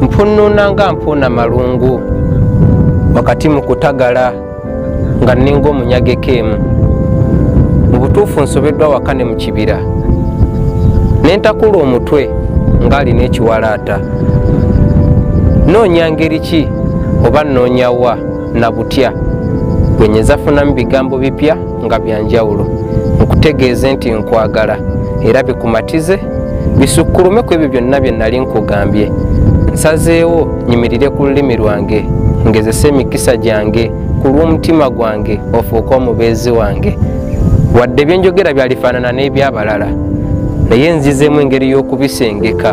mpunnuna nga mpuuna malungu wakati mu kutagala nga nninga omunyageko emu mu butuufu nsobeddwa waka ne mu kibira ne ntakula omutwe ng'alina ekiwalaata noonya ngeri ki oba nnoonya wa na butya bwe nyinza funamu bigambo bipya nga bya njawulo nkutegeeze nti nkwagala era bikumatize bisukulume ku ebyo byonna bye nali nkugambye nsazeewo nyimirire ku lulimi lwange ngezese emikisa gyange ku lw'omutima gwange ofuuke omubeezi wange wadde byenjogera byalifaanana n'eby'abalala naye nzizeemu engeri y'okubisengeka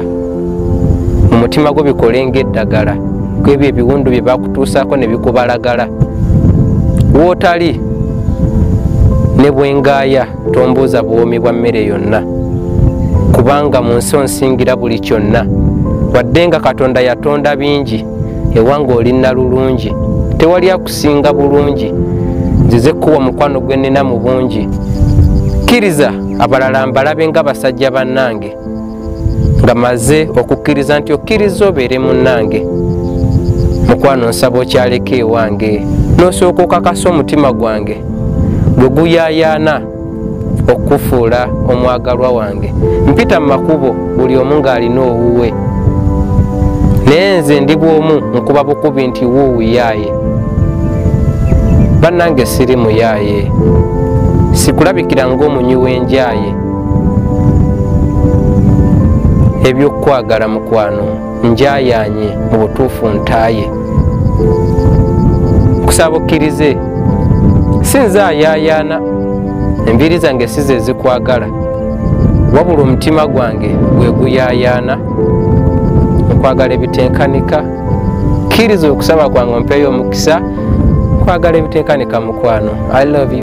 mu mutima gwo bikole ng'eddagala ku ebyo ebiwundu bye bakutuusaako ne bikubalagala wootali ne bwengaaya tombuuza buwoomi bwa mmere yonna kubanga mu nsi onsingira buli kyonna wadde nga katonda yatonda bingi ewanga olinna lulungi tewali akusinga bulungi nzize kukuwa mukwano gwe nnina mu bungi kkiriza abalala mbalabe nga basajja bannange nga maze okukkiriza nti okkiriza obeere munnange mukwano nsaba okyaleka ewange n'osooka okakasa omutima gwange gwe guyayaana okufuula omwagalwa wange mpita mu makubo buli omu ng'alina owuwe naye nze ndi bwomu nkuba bukubi nti wuuyaaye bannange siri muyaaye sikulabikira ng'omunywi w'enjaaye ebyokukwagala mukwano njayanye mu butuufu ntaaye kusaba okkirize si nze ayaayaana enviiri zange si ze zikwagala wabula omutima gwange gwe guyaayaana okwagala ebitenkanika kkiriza okusaba kwange ompeeyo omukisa kwagala ebitenkanika mukwano i love you